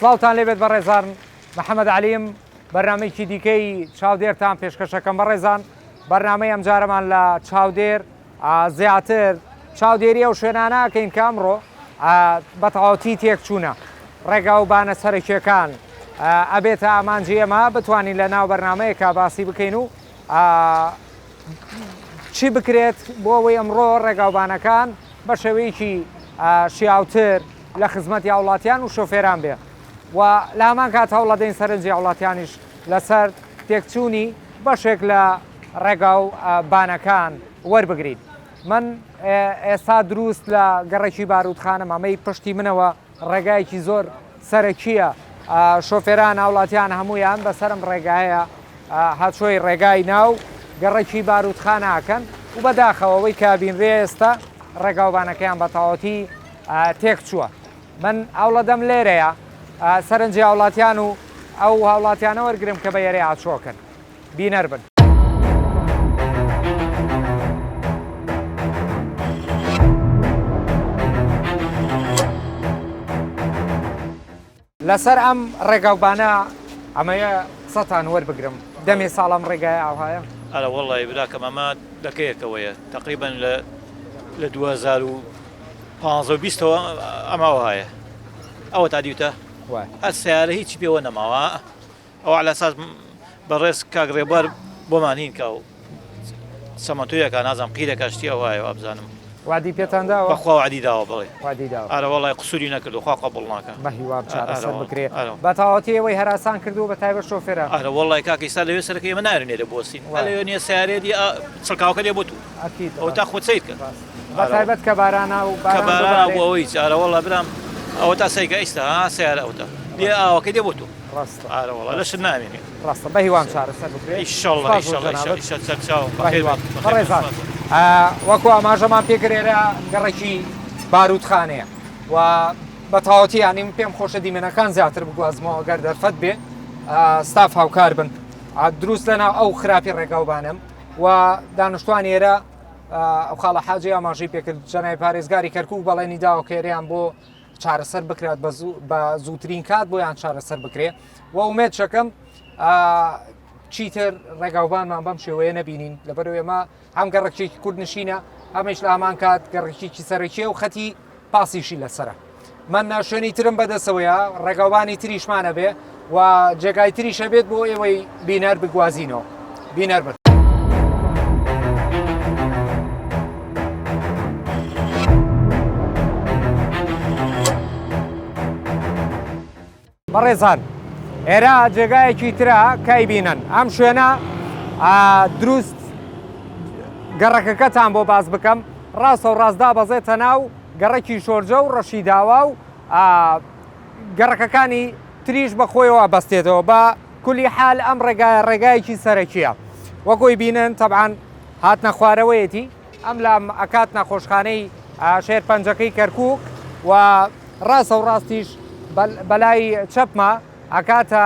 سڵاوتان لێبێت بەڕێزان محەممەد علیم بەرنمەیەکی دیکەی چاودێرتان پێشکەشەکەم بەڕێزان بەرنمەی ئەم جارەمان لە چاودێر زیاتر چاودێری ئەو شوێنانەکەین کامڕۆ بەتەواوتی تێکچوونە ڕێگا و بانە سەرکیەکان ئەبێتە ئامانجی ئەمە بتوانین لە ناو بەرنمەیەکە باسی بکەین و چی بکرێت بۆ ئەوەی ئەمڕۆ ڕێگاوبانەکان بە شێوەیەکی شیاوتر لە خزمەت هاوڵاتیان و شۆفێران بێ و لە هەمان کات هەوڵەدەین سەرنجی هاوڵاتیانیش لەسەر تێکچوونی بەشێک لە ڕێگا و بانەکان وەربگرین من ئێستا دروست لە گەڕەکی بارودخانە مامەی پشتی منەوە ڕێگایەکی زۆر سەرەکییە، شۆفێران هاوڵاتیان هەموویان بەسەرم ڕێگایە هاتشۆی ڕێگای ناو گەڕەکی باروتخانە ئەکەن و بەداخەوە ئەوەی کە ئەبینرێ ئێستا ڕێگاوبانەکەیان بەتەواوەتی تێکچووە من هەوڵەدەم لێرەیا سەرنجی هاوڵاتیان و ئەو هاوڵاتیانە وەرگرم کە بە یەرێ هاتشۆکەن. بینەر بن. لەسەر ئەم ڕێگاو بانە ئەمەیە قسەتان وەربگرم دەمێ ساڵم ڕێگای ئاوهایە ئەرە وەڵی براکەم ئەمە دەکەیەکەوەیە تقریبن لە لە 2015ەوە ئەماوە هاە ئەوە تا دیوتە ئە سیارە هیچی پێوە نەماوە ئەو عەلا ساز بەڕێز کاک ڕێبوار بۆمان هین کا و چەمەنتۆ یەکا نازانم قیرەکە شتی ئەوایە وابزانم. وەعدی پێتان داوە؟ بەخوا وەعدی داوە بەڵێ. وەعدی داوە. ئارە وەڵای قسوری نەکردوە خوا قبوڵ ناکا. بە هیوام چارەسەر بکرێ. ئارە وەڵای. بە تەواوەتی ئێوەی هەراسان کردوە بە تایبەت شۆفێران. ئارە وەڵای کاکە ئیستا لەوێ سەرەکە ئێمە نایەرن لێرە بۆسین. ئەلێ نیە سەیارەیە دیە چڵکاوەکە لێ بۆ تو. ئەو تا خوچەیت کە بەتایبەت کە بارانا و بارا بۆ ئەوەی جارەوەڵە برام ئەوە تا سەیکە ئیستا سیارە ئەوتە بێ ئاوەکە دێ بۆ تۆ ڕاستە ئارەوەڵە لە شت نامێنێ ڕاستە بە هیوام چارەسەر بکرێشڵڕێزان وەکو ئاماژەمان پێکرێرە گەڕێکی باروتخانەیە و بە تاوەتی ینیم پێم خۆشە دیمەنەکان زیاتر بگوازمەوە گەر دەرفەت بێ ستاف هاوکار بن دروست لەناو ئەو خراپی ڕێگاوبانم و دانوستان ئێرە ئەو خاڵە حاجی ئاماژەی پێکرد جەنای پارێزگاری کەرکک بەڵێنی داوە کێریان بۆ چارەسەر بکرات بە زووترین کات بۆیان چارەسەر بکرێ و ئومێت شەکەم چیتر ڕێگاوبانمان بەم شێوەیە نەبینین لەبەر ئێمە هەم گەڕکێکی کورد نشینە ئەمەش لامان کات گەڕکێکی سەرەکیە و خەتی پاسیشی لەسەرە مەنا شوێنی ترم بەدەسەوەیە ڕێگاوبانی تریشمانە بێ و جێگای تریشە بێت بۆ ئێوەی بینەر بگوازینەوە بینەر بن بەڕێزان ئێرە جێگایەکی ترە کای بینن ئەم شوێنە دروست گەڕەکەکەتان بۆ باز بکەم ڕاستە و ڕاستدا بەزێتە ناو گەڕەکی شۆرجە و ڕەشی داوا و گەڕەکەکانی تریش بە خۆیەوە بەستێتەوە بە کولی حال ئەم ڕێگایە ڕێگایەکی سەرەکیە وەگۆی بینن تەبان هاتنە خوارەوەیەتی ئەم لام ئەکات نەخۆشخانەی شێرپەنجەکەی کەرکوک و ڕاستە و ڕاستیش بەلای چەپمە ئەکاتە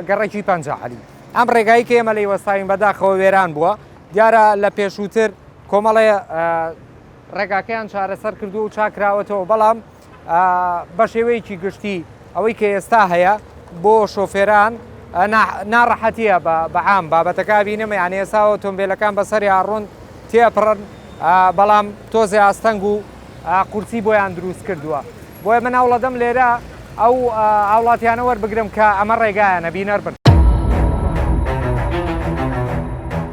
گەڕەکی پەنجە عەلی ئەم ڕێگایی کە ئێمە لەی وەستاوین بەداخەوە وێران بووە دیارە لە پێشووتر کۆمەڵێ ڕێگاکەیان چارەسەر کردو و چاکراوەتەوە بەڵام بەشێوەیەکی گشتی ئەوەی کە ئێستا هەیە بۆ شۆفێران ناڕەحەتیە بە عام بابەتەکە بینم یان ئێسا ئۆتۆمبیلەکان بەسەری ئاڕۆن تێپڕن بەڵام تۆزێ ئاستەنگ و قورسی بۆیان دروست کردووە بۆیە من هەوڵەدەم لێرە ئەو هاوڵاتیانە وەربگرم کە ئەمە ڕێگایانە بینەر بن.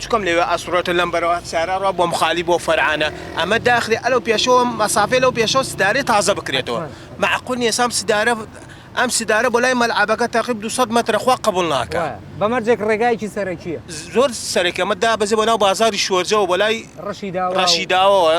چکم لەوێ ئەسوڕێتۆ لەم بەرەوە سارا ڕا بۆم خالی بۆ فەرعانە ئەمە داخرێ ئەلەو پێشەوە مەسافەی لەو پێشەوە سدارەی تازە بکرێتەوە مەعقول نیە سام سدارە ئەم سدارە بۆ لای مەلعەبەکە تەقیب دوو سەد مەترە خوا قبوڵ ناکا. بە مەرجێک ڕێگایەکی سەرەکیە. زۆر سەرەکیە ئەمە دابەزێ بۆ ناو بازاری شۆرجەوە بۆ لای ڕەشیداوە ڕەشیداوەوە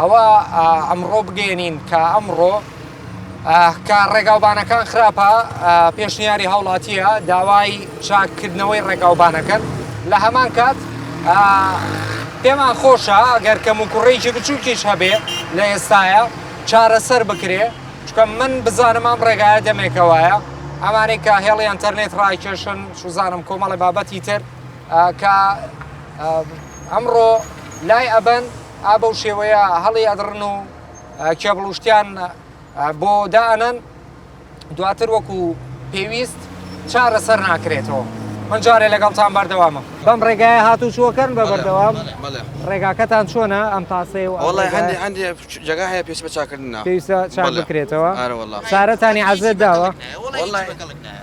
ئەوە ئەمڕۆ بگەێنین کە ئەمڕۆ کە ڕێگاوبانەکان خراپە پێشنیاری هاوڵاتیە داوای چاککردنەوەی ڕێگاوبانەکەن لە هەمان کات پێمان خۆشە ئەگەر کەم و کوڕێکی بچووکیش هەبێ لە ئێستاە چارەسەر بکرێ چکە من بزانم ئەم ڕێگایە دەمێکەوەیە ئەمانەی کە هێڵی ئەتەرنێت ڕایکێشن سوزانم کۆمەڵی بابەتی تر کە ئەمڕۆ لای ئەبەن ئا بەو شێوەیە هەڵی ئەدڕن و کێبڵ و شتیان بۆ دائەنەن دواتر وەکو پێویست چارە سەر ناکرێتەوە من جارێ لەگەڵتان بەردەوامم بەم ڕێگایە هاتو چووەکەن بە بەردەوام ڕێگاکەتان چۆنە ئەم تاسێ و وڵی هەندی هەندی جگە هەیە پێش بە چاکردنا پێویستە چاک بکرێتەوە سارەتانی عزێت داوە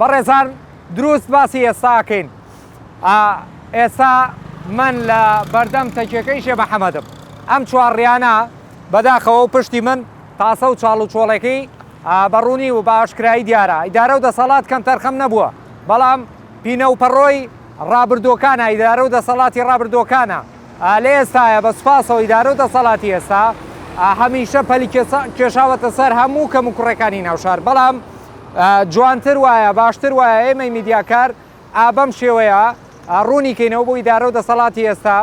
بەڕێزان دروست باسی ئێستا ئەکەین ئا ئێستا من لە بەردەم تەکیەکەی شێ محەمەدم ئەم چوارڕیانە بەداخەوە و پشتی من تاسە و چاڵ و چۆڵێکەی بەڕوونی و بە ئاشکرایی دیارە ئیدارە و دەسەڵات کەم تەرخەم نەبووە بەڵام پینە و پەڕۆی ڕابردووەکانە ئیدارە و دەسەڵاتی ڕابردووەکانە لە ئێستایە بە سوپاسەوە ئیدارەو دەسەڵاتی ئێستا هەمیشە پەلی کێشاوەتە سەر هەموو کەم و کوڕەکانی ناوشار بەڵام جوانتر وایە باشتر وایە ئێمەی میدیاکار ئابەم شێوەیە ڕوونی کەینەوە بۆ ئیدارە و دەسەڵاتی ئێستا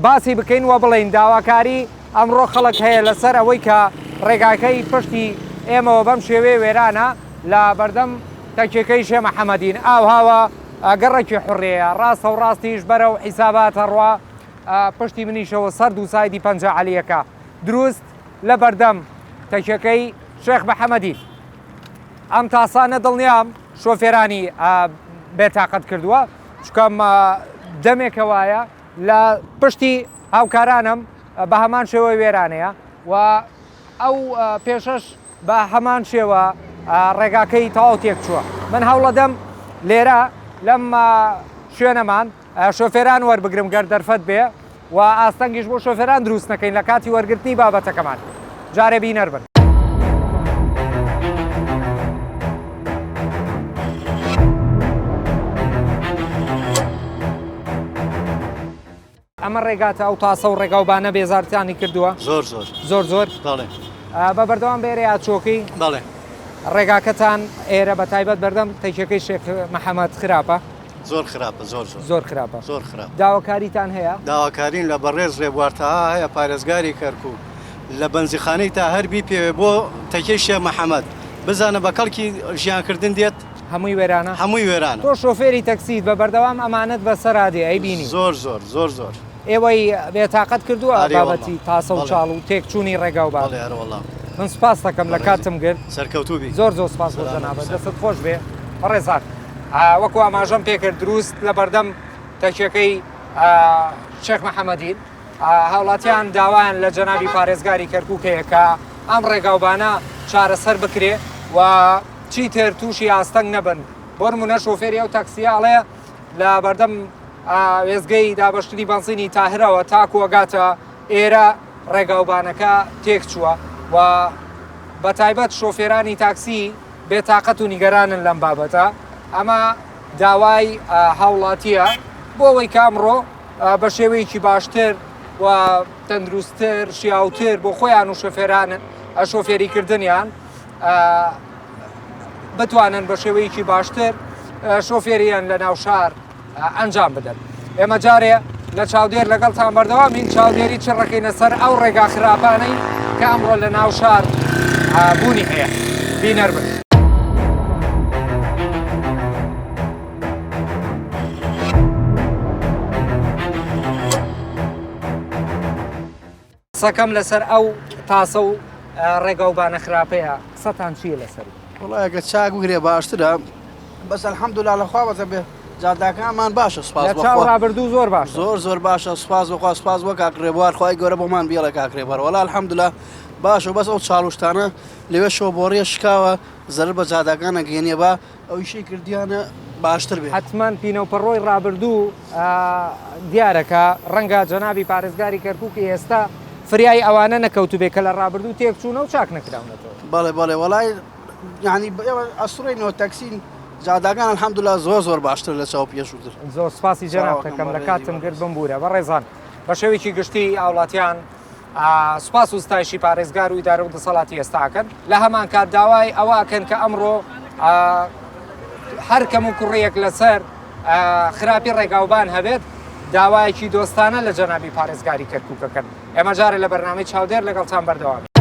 باسی بکەین وە بڵین داواکاری ئەمڕۆ خەڵک هەیە لەسەر ئەوەی کە ڕێگاکەی پشتی ئێمەوە بەم شێوەیە وێرانە لە بەردەم تەکێکەی شێ محەممەدین ئاوهاوە گەڕەکی حوڕییە ڕاستە و ڕاستیش بەرەو حیسابات ئەڕوا پشتی منیشەوە سەر دوو سایدی پەنجە عەلییەکە دروست لە بەردەم تەکیەکەی شێخ محەمەدی ئەم تاسانە دڵنیام شۆفێرانی بێتاقەت کردووە چکەم دەمێکە وایە لە پشتی هاوکارانم بە هەمان شێوە وێرانەیە و ئەو پێشەش بە هەمان شێوە ڕێگاکەی تەواو تێکچووە من هەوڵەدەم لێرە لەم شوێنەمان شۆفێران وەربگرم گەر دەرفەت بێ و ئاستەنگیش بۆ شۆفێران دروست نەکەین لە کاتی وەرگرتنی بابەتەکەمان جارێ بینەر بن. ئەمە ڕێگاتە ئەو تاسە و ڕێگا و بانە بێزارتانی کردووە؟ زۆر زۆر زۆر زۆر بەڵێ بە بەردەوام بێرە یا چۆکی بەڵێ ڕێگاکەتان ئێرە بە تایبەت بەردەم تەکیەکەی شێخ محەممەد خراپە زۆر خراپە زۆر زۆر زۆر خراپە زۆر خراپ داواکاریتان هەیە داواکارین لە بەڕێز ڕێبوارتەها هەیە پارێزگاری کەرکوو لە بەنزیخانەی تا هەربی پێوێ بۆ تەکیەی شێخ محەممەد بزانە بە کەڵکی ژیانکردن دێت هەمووی وێرانە؟ هەمووی وێرانە. تۆ شۆفێری تەکسیت بە بەردەوام ئەمانەت بە سەرا دێ ئەی بینی؟ زۆر زۆر زۆر زۆر. ئێوەی بێ تاقەت کردووە بابەتی تاسە و چاڵ و تێک چوونی ڕێگا و بار. من سوپاست دەکەم لە کاتتم گرت. سەرکەوتوو بی. زۆر زۆر سوپاس بۆ جەنابت. دەستت خۆش بێ بەڕێزان. وەکو ئاماژەم پێ کرد دروست لە بەردەم تەکیەکەی شێخ محەمەدین. هاوڵاتیان داوایان لە جەنابی پارێزگاری کەرکک هەیە کە ئەم ڕێگاوبانە چارەسەر بکرێ و چیتر تووشی ئاستەنگ نەبن بۆن منە شۆفێری ئەو تاکسیاڵێ لە بەردەم وێزگەی دابشتنی بەنزینی تاهرەوە تاکووەگاتە ئێرە ڕێگاوبانەکە تێک چووە و بە تایبەت شۆفێرانی تاکسی بێتاقەت و نیگەرانن لەم بابەتە ئەمە داوای هاوڵاتیە بۆ ئەوەی کامڕۆ بە شێوەیەکی باشتر و تەندروستتر شیاوتر بۆ خۆیان و شەفێران شۆفێری کردنیان بتوانن بە شێوەیەکی باشتر شۆفێریان لە ناو شار ئەنجام بدەن ئێمە جارێ لە چاودێر لەگەڵ تان بەردەوام هین چاودێری چ ڕەکەینە سەر ئەو ڕێگا خراپانەی کە ئەمڕۆ لە ناو شار بوونی هەیە بینەر بن. قسەکەم لەسەر ئەو تاسە و ڕێگا و بانە خراپەیە قسەتان چیە لەسەر وڵایەکە چاک بگرێ باشترە بەس الحەمدولا لەخوا بەزە بێ جاداکانمان باشە سپاس ڕابردوو زۆر باش زۆر زۆر باشە سپاس بخوا سپاس بۆ کاکرێ بوار خخوای گەورە بۆمان بیڵە کاکرێ بەرەوەڵا الحەمدلا باشە بەس ئەو چاڵشتانە لەوێ شۆ بۆڕیە شکاوە زەر بە جاداکانە گەێنێ بە ئەو ئیشەی کردیانە باشتر بێت. حەتمەن پینەوپەڕۆی ڕابردوو دیارە کە ڕەنگە جەنابی پارێزگاری کەرکووکی ئێستا فریای ئەوانە نەکەوتوبێ کە لە ڕابردوو تێک چوونە و چاک نەکراونەتەوە. بەڵێ بەڵێ وەڵای یعنی ئێوە ئەسڕێنەوە تەکسین جاداگان الحمدلله زۆر زۆر باشتر لە چاو پێشووتر زۆر سپاسی جەنابتەکەم لە کاتم گرت بمبوورە بەڕێزان بە شێوێکی گشتی هاوڵاتیان سوپاس و ستایشی پارێزگار و ئیدارە و دەسەڵاتی ئێستاکەن لە هەمان کات داوای ئەوەکەن کە ئەمڕۆ هەر کەم و کوڕیەک لەسەر خراپی ڕێگاوبان هەبێت داوایەکی دۆستانە لە جەنابی پارێزگاری کەرکووکەکەن ئێمە جارە لە بەرنامەی چاودێر لەگەڵتان بەردەوام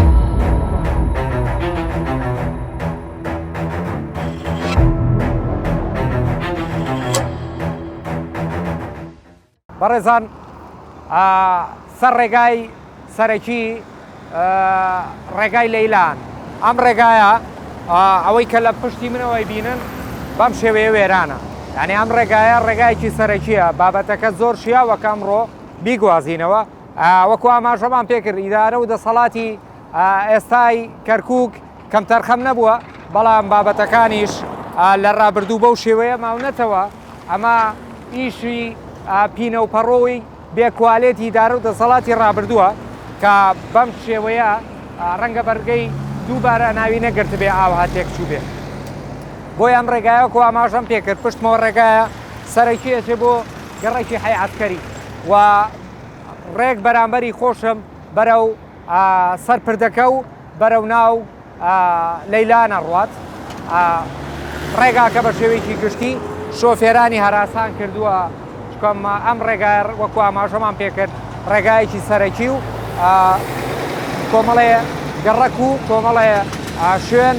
بەڕێزان سەر ڕێگای سەرەکی ڕێگای لەیلان ئەم ڕێگایە ئەوەی کە لە پشتی منەوەی بینن بەم شێوەیە وێرانە یعنی ئەم ڕێگایە ڕێگایکی سەرەکیە بابەتەکە زۆر شیاوەکە ئەمڕۆ بیگوازینەوە وەکو ئاماژەمان پێکرد ئیدارە و دەسەڵاتی ئێستای کەرکک کەمتەرخەم نەبووە، بەڵام بابەتەکانیش لە ڕابردوو بەو شێوەیە ماونەتەوە، ئەمە ئیشی پینەوپەڕۆی بێ کوالێتی ئیدارە و دەسەڵاتی ڕابردووە کە بەم شێوەیە ڕەنگە بەرگەی دووبارە ناوی نەگرتبێ ئاوها تێکچووبێ. بۆیە ئەم ڕێگایە وەکو ئاماژەم پێکرد پشتمەوە ڕێگایە سەرەکی ئەچێ بۆ گەڕەکی حەی عەسکەری و ڕێک بەرامبەری خۆشم بەرەو سەر پردەکە و بەرەو ناو لەیلان ئەڕوات. ڕێگاکە بە شێوەیەکی گشتی شۆفێرانی هەراسان کردووە، چونکە ئەم ڕێگایە وەکو ئاماژەمان پێکرد ڕێگایەکی سەرەکی و کۆمەڵێ گەڕەک و کۆمەڵێ شوێن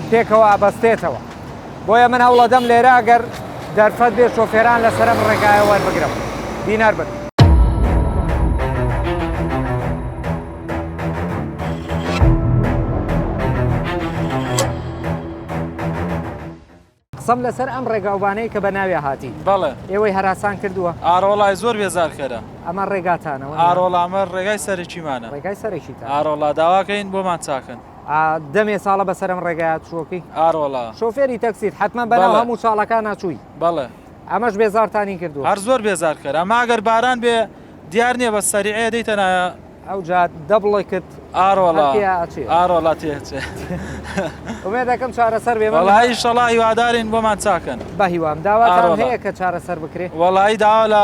پێکەوە ئەبەستێتەوە. بۆیە من هەوڵەدەم لێرە گەر دەرفەت بێ شۆفێران لە سەرم ڕێگایە وەربگرم دینار بن. قسەم لەسەر ئەم ڕێگاوبانەی کە بە ناوێ هاتی بەڵێ ئێوەی هەراسان کردووە ئارۆڵای زۆر بێزارکەرە ئەمە ڕێگاتانەوە ئارۆڵامە ڕێگای سەرکیمانە ڕێگای سەرکی ئارۆڵا داواکەین بۆمان چاکەن ئا دەمێ ساڵە بەسەرم ڕێگایە چووەکی. ئاروەڵا. شۆفێری تەکسیت حەتمەن بەناو بەڵێ. هەموو چاڵەکانا چووی. بەڵێ. ئەمەش بێزارتانی کردووە. هەر زۆر بێزار کەر ئەمە ئەگەر باران بێ دیار نیە بەس سەریعەیە دەیتە نایە. ئەوجا دەبڵێکت ئاروەڵا. هەرتێیا ئەچێ. ئاروەڵا تێ ئەچێ. ئومێدەکەم چارەسەر بێ من. وەڵایی ئیشەڵا هیوادارین بۆمان چاکەن. بەهیوام. داواتان ئاروەڵا. هەیە کە چارەسەر بکرێ؟ وەڵایی داوا لە.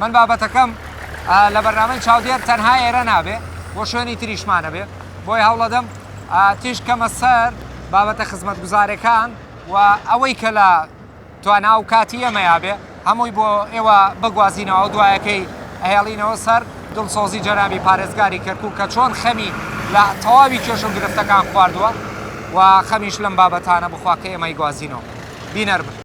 من بابەتەکەم لە بەرنامەی چاودێر تەنها ئێرە نابێ بۆ شوێنی تریشمانەبێ بۆی هەوڵەدەم تیش کەمە سەر بابەتە خزمەتگوزارەکان و ئەوەی کە لە توانا و کاتی ئەمەیابێ هەمووی بۆ ئێوە بگوازینەوە دوایەکەی ئەهێڵینەوە سەر دڵسۆزی جەنابی پارێزگاری کەرکوو کە چۆن خەمی لە تەواوی کێش و گرفتەکان خواردووە و خەمیش لەم بابەتانە بخوا کە ئێمەی گوازینەوە بینەر بن.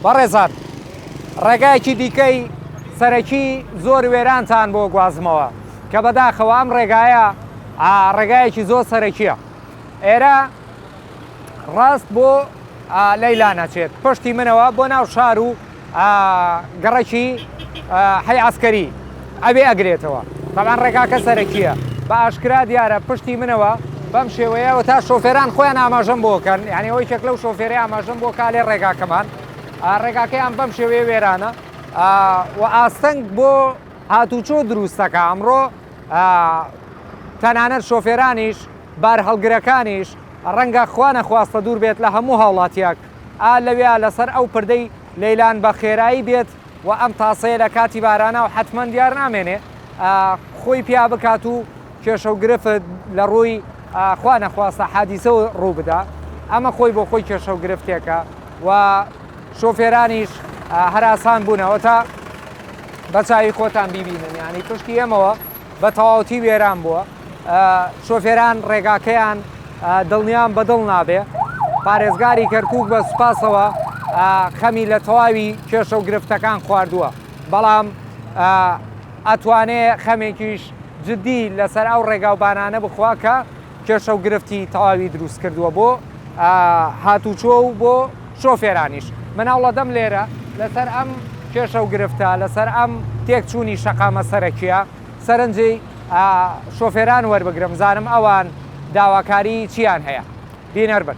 بەڕێزان ڕێگایەکی دیکەی سەرەکی زۆر وێرانتان بۆ گوازمەوە کە بەداخەوە ئەم ڕێگایە ڕێگایەکی زۆر سەرەکیە ئێرە ڕاست بۆ لەیلا نەچێت پشتی منەوە بۆ ناو شار و ئا گڕکی ئا حەی عەسکەری ئەوێ ئەگرێتەوە تەبعەن ڕێگاکە سەرەکیە بە ئاشکرا دیارە پشتی منەوە بەم شێوەیە و تا شۆفێران خۆیان ئاماژەم بۆ کەن یعنی ئەوەی کێک لەو شۆفێری ئاماژەم بۆ کالێ ڕێگاکەمان ڕێگاکەیان بەم شێوەیە وێرانە و ئاستەنگ بۆ هاتوچۆ دروستەکە ئەمڕۆ تەنانەت شۆفێرانیش بارهەڵگرەکانیش ڕەنگە خوا نەخواستە دوور بێت لە هەموو هاوڵاتیەک ئا لەوێا لەسەر ئەو پردەی لەیلان بە خێرایی بێت و ئەم تاسەیە لە کاتی بارانا و حەتمەن دیار نامێنێ ئا خۆی پیا بکات و کێشە و گرفت لە ڕووی ئا خوا نەخواستە حادیسە و ڕوو بدا ئەمە خۆی بۆ خۆی کێشە و گرفتێکە و شۆفێرانیش هەراسان بوونەوە تا بە چاوی خۆتان بیبینن یانی پشتی ئێمەوە بە تەواوەتی وێران بووە، شۆفێران ڕێگاکەیان دڵنیام بە دڵ نابێ، پارێزگاری کەرکووک بە سوپاسەوە خەمی لە تەواوی کێشە و گرفتەکان خواردووە، بەڵام ئەتوانێ خەمێکیش جدی لەسەر ئەو ڕێگاوبانانە بخوا کە کێشە و گرفتی تەواوی دروست کردووە بۆ هاتوچۆ و بۆ شۆفێرانیش مناڵەدەم لێرە لەسەر ئەم کێشە و گرفتە لەسەر ئەم تێکچوونی شەقامە سەرەکیە سەرنجی شۆفێران وەربگرم زانم ئەوان داواکاری چیان هەیە بینەر بن.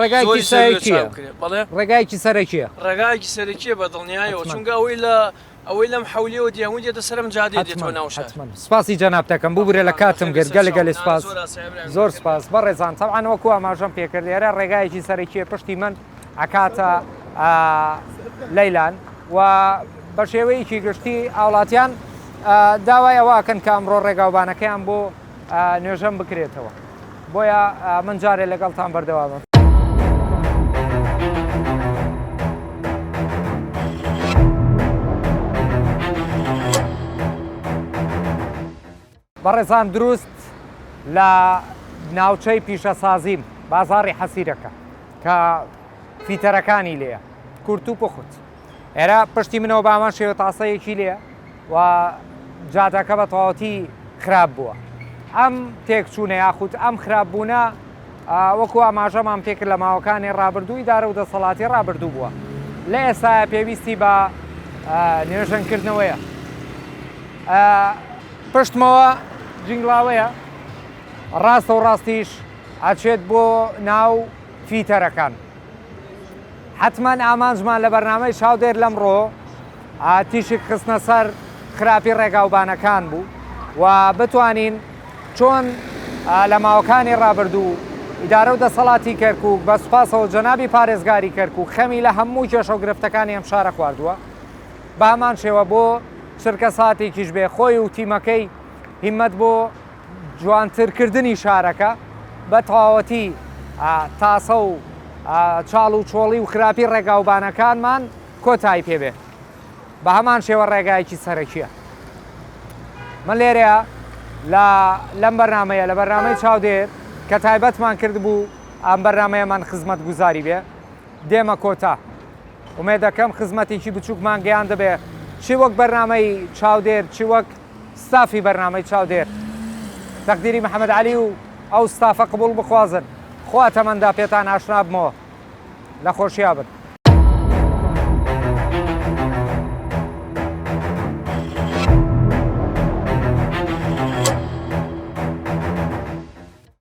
ڕێگایەکی سەرەکییە بەڵێ ڕێگایەکی سەرەکییە ڕێگایەکی سەرەکییە بە دڵنیایەوە چونکە ئەوەی لە ئەوەی لەم حولیەوە دیهون دێتە سەرم جادێ دێتەوە ناو شار سپاسی جەنابتەکەم ببورە لە کاتم گرت گەلە گەلێ سپاس زۆر سپاس بەڕێزان تەوان وەکو ئاماژەم پێکرد ئێرە ڕێگایەکی سەرەکیە پشتی من ئەکاتە لەیلان و بە شێوەیەکی گشتی ئاوڵاتیان داوای ئەوەکەن کە ئەمڕۆ ڕێگاوبانەکەیان بۆ نوێژەم بکرێتەوە بۆیە من جارێ لەگەڵتان بەردەوامە. بەڕێزان دروست لە ناوچەی پیشەسازیم بازاری حەسیرەکە کە فیتەرەکانی لێە کورت و پخت ئێرە پشتی منەوە بە هەمان شێوە تاسەیەکی لێ و جادەکە بە تەواوەتی خراپ بووە ئەم تێکچوونە یاخود ئەم خراپبوونە وەکو ئاماژەمان پێکرد لە ماوەکانی ڕابردووی دارە و دەسەڵاتی ڕابردوو بووە لە ئێستا پێویستی بە نوێژەنکردنەوەیە پشتمەوە جنگڵاوەیە ڕاستە و ڕاستیش ئەچێت بۆ ناو فیتەرەکان حەتمەن ئامانجمان لە بەرنامەی چاودێر لەمڕۆ تیشک خستنە سەر خراپی ڕێگاوبانەکان بوو و بتوانین چۆن لە ماوەکانی ڕابردوو ئیدارە و دەسەڵاتی کەرکک بە سوپاسەوە جەنابی پارێزگاری کەرکک خەمی لە هەموو کێشە و گرفتەکانی ئەم شارە خواردووە بامان شێوە بۆ چرکە ساتێکیش بێ خۆی و تیمەکەی هیمەت بۆ جوانترکردنی شارەکە، بە تەواوەتی تاسە و چاڵ و چۆڵی و خراپی ڕێگاوبانەکانمان کۆتایی پێ بێ بە هەمان شێوە ڕێگایەکی سەرەکیە من لێرەیە لە لەم بەرنمەیە لە بەرنمەی چاودێر کە تایبەتمان کرد بوو ئەم بەرنمەیەمان خزمەت گوزاری بێ دێمە کۆتا ومێ دەکەم خزمەتێکی بچووکمان گەیان دەبێ چی وەک بەرنمەی چاودێر چی وەک ستافی بەرنامەی چاودێر تەقدیری محمد علی و ئەو ستافە قبوڵ بخوازن خوا تەمەندا پێتان ئاشنا بمەوە لە خۆشیا بن.